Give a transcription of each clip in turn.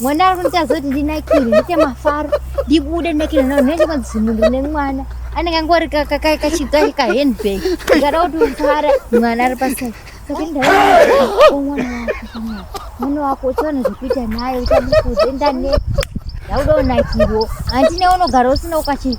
mwana ari kuita zoti ndinakire ndiite mafaro ndibude ndinakire nao ndinenge madzimundu nemwana anenge angori kachidzwa kahandbag ikada kuti mfara mwana ari pasai mwana wako uchiona zvekuita naye uchamukuze ndane ndauda unakirwo handine unogara usina ukachii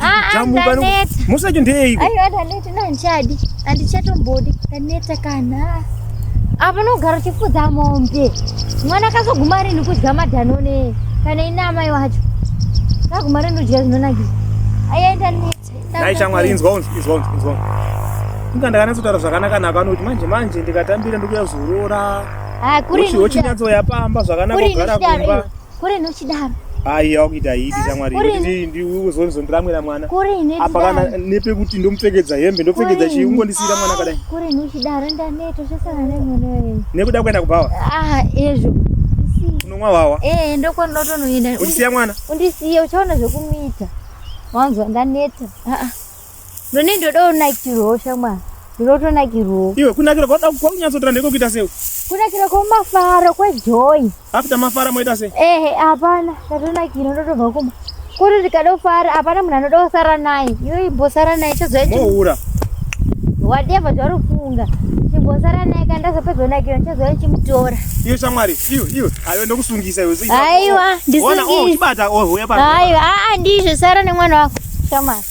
Ah, ah, musacho ndeiko aiwa ndaneta ndandichadi handichatombodi ndaneta kana apa nogara uchifudza mombe mwana akazoguma rini kudya madanone kana ine amai wacho kaguma rini udya zvinonakisa aiwa ndaneta dai shamwari inzwa unzwa inzwa unzwa inzwa inga ndakanatsotaura zvakanaka nako anoti manje manje ndikatambira ndikuya zorora ah, uchinyatsoya pamba zvakanaka kugara kumba Kuri nochidaro. Ai yakuita hidi shamwari kuti ndi uzonzo ndiramwira mwana. Kuri ne. Apa kana nepe kuti ndomupfekedza hembe ndopfekedza chii ungondisiira mwana kadai. Kuri nochidaro ndaneta zvesana nemwana wewe. Nekuda kuenda kubhawa. Ah ezvo. Unomwa wawa. Eh ndokwa ndotonoenda. Undisiya mwana. Undisiye uchaona zvekumuita. Wanzwa ndaneta. Ah ah. None ndoda unakirwo shamwa. Ndoto nakirwo. Iwe kunakira kwa daku kwa unyatso tanda iko kuita seu. Kunakira kwa mafaro kwa joy. After mafara moita sei? Eh eh hapana. Ndoto nakira ndoto bva kuma. Kuri ndikada kufara hapana munhu anoda kusara naye. Iwe imbosara naye chazoita. Mohura. Whatever zvauri kufunga. Chimbosara naye kana ndazopedza nakira chazoita chimutora. Iwe shamwari. Iwe iwe. Ayo ndokusungisa iwe. Aiwa ndisungisa. Ona oh chibata oh huya pa. Aiwa a ah, a ah, ndizvo sara nemwana wako. Shamwari.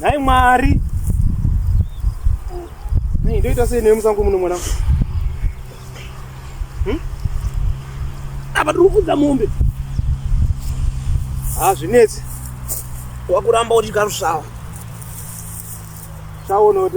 nhai mwari nei ndoita sei newe musango muno mwana hmm? apa tiri kufudza mombe hazvinetsi wakuramba uchigaro svawo svawo noti